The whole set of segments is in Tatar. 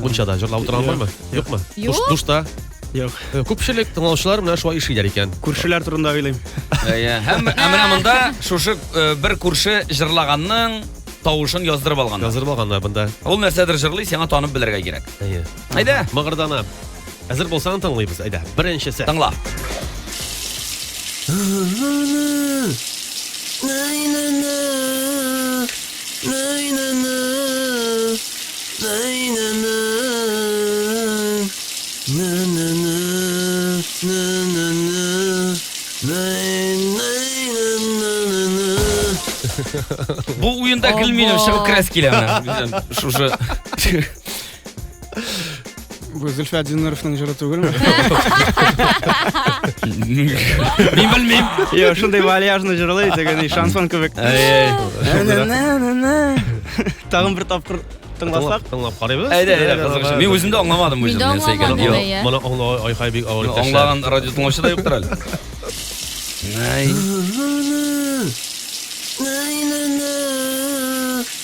Мунчада җырлап утырган бармы? Юкмы? Душ, душта? Юк. Э, күпчелек тыңлаучылар менә шулай эшлиләр икән. Күршеләр турында уйлыйм. Әйе. Һәм менә монда шушы э, бер күрше җырлаганның тавышын яздырып алган. Яздырып алганнар монда. Ул нәрсәдер җырлый, сиңа танып белергә кирәк. Әйе. Әйдә. Мыгырдана. Әзер булсаң тыңлыйбыз, әйдә. Беренчесе. Тыңла. Бу уенда гел мин чыгып керәс килә менә. Шушы Бу Зөлфәт Динуровның җыры түгелме? Мин белмим. Йо, шундый вальяжны җырлый дигән шансон кебек. Тагын бер тапкыр тыңласак. Тыңлап карыйбыз. Әйдә, әйдә, кызыгыз. Мин үзем дә аңламадым үзем нәрсә икәнен. Йо, моны аңлау айхай бик авыр иптәш. Аңлаган радио тыңлаучы да юктыр әле. Най.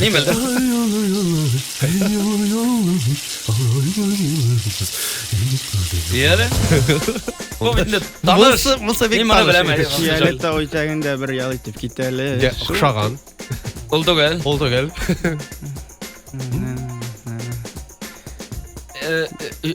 Мин белдем. Яре. Бу бит инде таныр. Булса- булса бик Мин моны таныр. беләм. Фиолетта үтәген дә бер ял итеп кит әле. Дә, Охшаган. Ул түгел. Ул түгел. Э, э, э,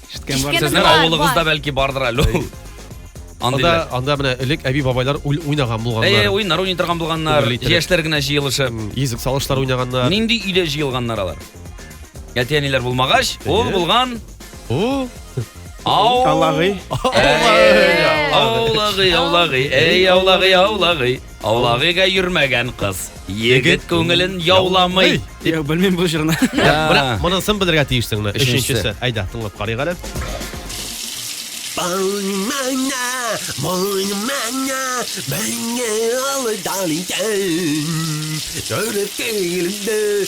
Ишеткән Ишеткән бар. Сезнең Бар, авылыгызда бар. бәлки бардыр әле ул. Анда, Андыйлар. анда менә элек әби-бабайлар уй- уйнаган Әй, булганнар. әй, уйнар уйный торган булганнар. Күңелле иттереп. Яшьләр генә җыелышып. Йөзек салышлар уйнаганнар. Нинди өйдә җыелганнар алар? Әти-әниләр булмагач, ул Эйе. булган О, ау. Алагый. Әй, Аулагый, аулагый, әй, аулагый, аулагый. Аулагыга йөрмәгән кыз. Егет күңелен яуламый. Я белмим бу җырны. Ә, Монысын белергә тиешсең менә. Өченчесе. Өченчесе. Әйдә, тыңлап карыйк әле. Балмана, балмана, мәңге алдан итәм. Төреп килде,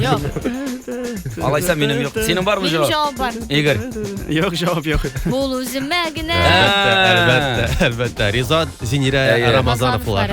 Юк. Алайса минем юк. Синең бармы Минем җавап бар. Игорь. Юк, җавап юк. Бул үземә генә. Әлбәттә, әлбәттә. Ризат Зинирә Рамазановлар.